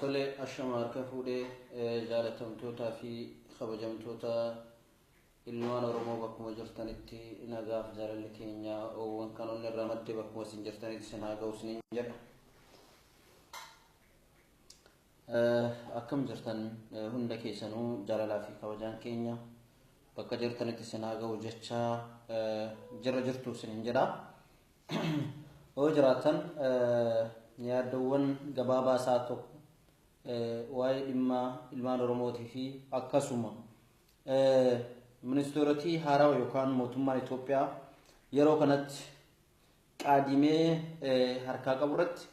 Tole ashama harka fuudhee jaalatamtootaa fi kabajamtoota ilmaan Oromoo bakkuma jirtanitti nagaaf jaalalli keenya oowwan kan onni irraa madde bakkuma isin jirtanitti isin haa ga'u isiniin jedha. Akkam jirtan hunda keessanuu jaalalaa fi kabajaan keenya bakka jirtanitti isin haa ga'u jechaa jirra jirtu isiniin jedha. Yoo jiraatan yaaddoowwan gabaabaa isaa tokko waa'ee dhimma ilmaan Oromootii fi akkasuma ministeerotii haarawa yookaan mootummaan Itoophiyaa yeroo kanatti qaadimee harkaa qabu irratti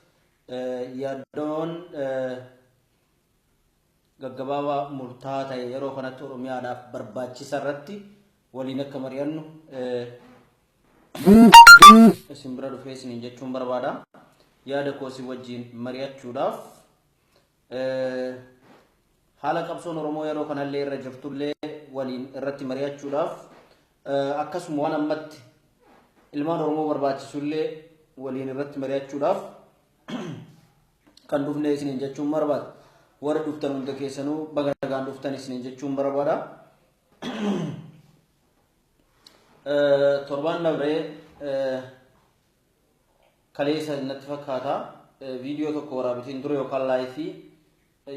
yaaddoon gaggabaabaa murtaa'aa ta'e yeroo kanatti Oromiyaadhaaf barbaachisa irratti waliin akka mari'annu isin bira dhufee isiniin jechuun barbaada. Yaada koo isin wajjin mari'achuudhaaf haala qabsoon Oromoo yeroo kanallee irra jirtullee waliin irratti mari'achuudhaaf akkasuma waan ammatti ilmaan Oromoo barbaachisullee waliin irratti mari'achuudhaaf kan dhufne isiniin jechuun barbaada. Warri dhuftan hunda keessanuu baga nagaan dhuftan isiniin jechuun barbaada. Torbaan dabree kaleessa natti fakkaata viidiyoo tokko waraabitiin ture yookaan laayifii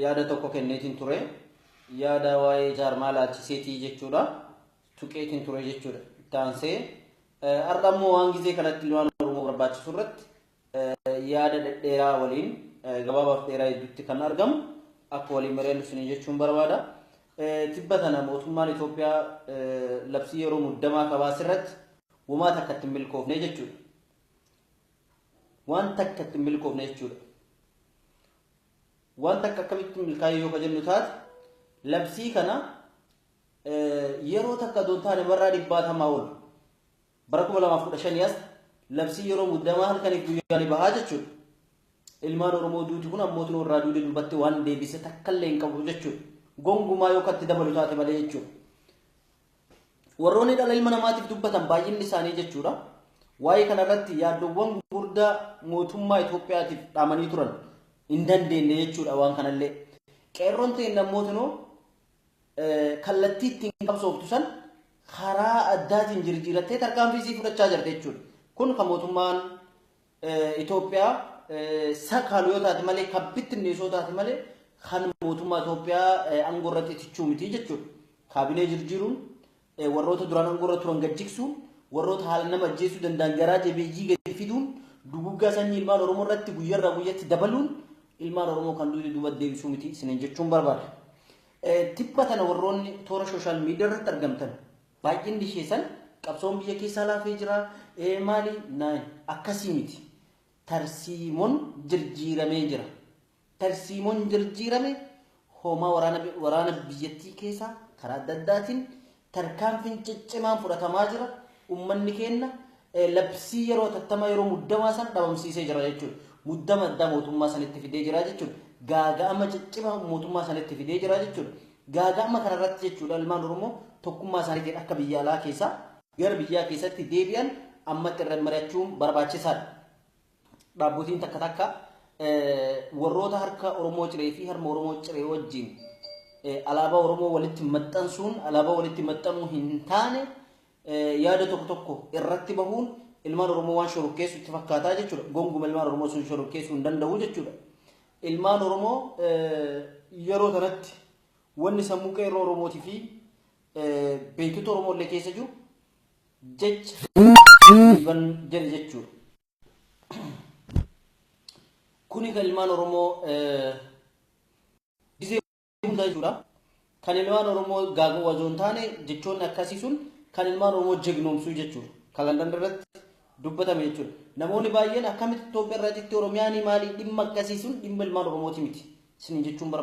yaada tokko kenneetiin ture yaada waa'ee jaarmaa laalchiseetii jechuudha tuqeetiin ture jechuudha itti aansee har'a immoo waan gizee kanatti waan oromoo barbaachisu irratti yaada dhedheeraa waliin gabaabaaf dheeraa hedduutti kan argamu akka waliin mari'annu isinii jechuun barbaada. Tibba tana mootummaan Itoophiyaa labsii yeroo muddamaa kabaas irratti womaa takka itti milkoofne jechuudha. Waan takka itti milkoofne jechuudha. Waan takka akkamitti milkaa'ee yoo ka jennu taate labsii kana yeroo takka doon taane barraa dhibbaatamaa ol Bara 2015 as labsii yeroo muddamaa halkaniif guyyaa ni bahaa jechuudha. Ilmaan Oromoo duuti kun ammootiin warraa duude duubatti waan deebise takkallee hin qabu jechuudha. Gongumaa yoo katti dabalu taate malee jechuudha. Warroonni dhala ilma namaatiif dubbatan baay'inni isaanii jechuudha. Waa'ee kanarratti yaaddoowwan gurguddaa mootummaa Itoophiyaatiif dhaamanii turan hin dandeenye jechuudha waan kanallee. Qeerroon ta'e namootinoo kallattii ittiin qabsooftu san karaa addaatiin jirjiirattee tarkaanfii isii fudhachaa jirti jechuudha. Kun kan mootummaan Itoophiyaa sakaalu yoo taate malee kan bittinneessu yoo taate malee kan mootummaa Itoophiyaa aangoo irratti tichuu miti jechuudha. Kaabinee jirjiiruun Warroota duraan angoorra turan gad jigsuun, warroota haalan nama ajjeesuu danda'an garaa jabeeyyii gadi fiduun, duguuggaa sanyii ilmaan Oromoo irratti guyyarraa guyyatti dabaluun ilmaan Oromoo kan duute duubatti deebisuu miti isiniin jechuun barbaada. Tibba tana warroonni toora sooshaal miidiyaa irratti argamtan baay'inni keessan qabsoon biyya keessaa laafee jira maali naan akkasii miti. Tarsiimon jirjiiramee jira. tarsiimoon jirjiirame hoomaa waraana biyyattii keessaa karaa adda addaatiin tarkaanfiin ciccimaan fudhatamaa jira. Uummanni keenna labsii yeroo tattamaa yeroo muddamaa san dhabamsiisee jira jechuudha. Muddama addaa mootummaa sanitti fidee jira jechuudha. Gaaga'ama ciccimaa mootummaa sanitti fidee jira jechuudha. Gaaga'ama kanarratti jechuudha ilmaan Oromoo tokkummaa isaaniitiin akka biyya alaa keessaa gara biyyaa keessatti deebi'an ammatti irra mari'achuun barbaachisaadha. Dhaabbotiin takka takka warroota harka Oromoo ciree fi harma Oromoo ciree wajjin alaabaa Oromoo walitti maxxansuun alaabaa walitti maxxanuu hin taane yaada tokko tokko irratti bahuun ilmaan Oromoo waan shorokkeessu itti fakkaataa jechuudha. Gonguma ilmaan Oromoo sun shorokkeessuu hin danda'u jechuudha. Ilmaan Oromoo yeroo kanatti wanni sammuu qeerroo Oromootii fi beektota Oromoo illee keessa jiru Jech riban jedhe jechuudha. Kuni kan ilmaan Oromoo gizee hundaa jechuudha. Kan ilmaan Oromoo gaaga'uu osoo hin taane jechoonni akkasii sun kan ilmaan Oromoo jegnoomsuu jechuudha. Kan Landan irratti dubbatame jechuudha. Namoonni baay'een akkamitti Itoophiyaa irraa citti Oromiyaanii maali dhimma akkasii sun dhimma ilmaan Oromooti miti. Isin jechuun barbaada.